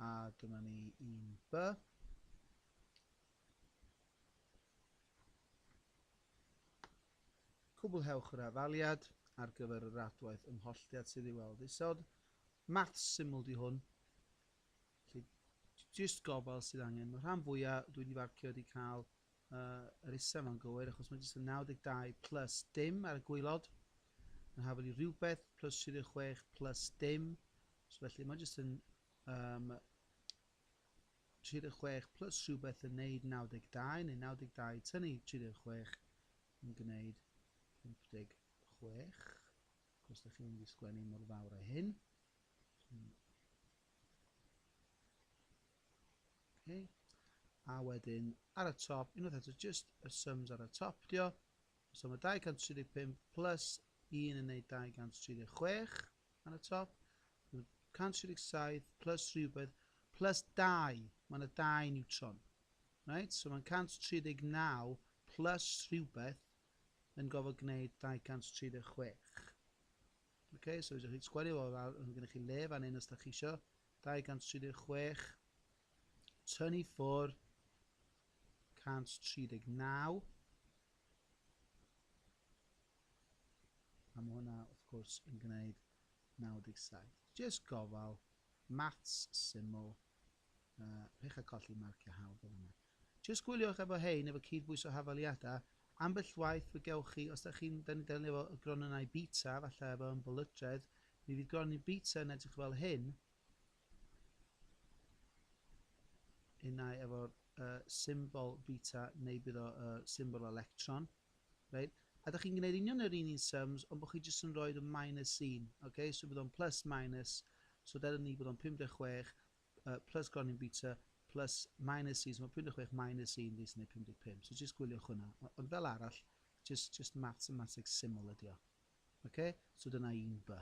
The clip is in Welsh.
A dyma ni un by. Cwblhewch yr afaliad ar gyfer yr adwaith ymholltiad sydd i'w weld isod. Math syml di hwn. Felly, jyst gofal sydd angen. Mae rhan fwyaf dwi wedi farcio wedi cael Yy, yr isa ma'n gywir, achos mae jyst yn 92 plus dim ar y gwylod. Yn hafel i rhywbeth plus 36 plus dim. So felly mae jyst yn um, 36 plus rhywbeth yn neud 92, neu 92 tynnu 36 yn gwneud 56. Cos da chi'n mynd i sgwennu mor fawr a hyn. Okay. A wedyn ar y top, unwaith eto, just y sums ar y top dio. So mae 235 plus 1 yn neud 236 ar y top. 137 plus rhywbeth plus 2. Mae yna 2 neutron. Right? So mae'n 139 plus rhywbeth yn gofod gwneud 236. Okay, so ydych chi'n sgwario fo, mae gennych chi le fan hyn os ydych chi eisiau. 236, tynnu ffwr 139, a mae hwnna wrth gwrs yn gwneud 97. Jyst gofal, maths syml, uh, pech a colli marciau hawdd fel yna. Jyst gwyliwch efo hein efo cyd-bwyso hafaliada, ambell waith fe gewch chi os da chi'n da ni'n delio efo y gronynnau bita falle efo ymbolydredd, mi fydd gronyn bita yn edrych fel hyn, unai efo'r uh, symbol bita neu bydd o uh, symbol electron. Right? A da chi'n gwneud union yr un un sums, ond bod chi jyst yn rhoi y minus un. Okay? So bydd o'n plus minus, so dyna ni bod o'n 56, yy plus gronyn bita plus minus un, so mae 56 minus 1 fi sy'n gwneud 55, so jyst gwyliwch hwnna. Ond fel arall, jyst, jyst mathematics syml ydi o. Okay? So dyna un by.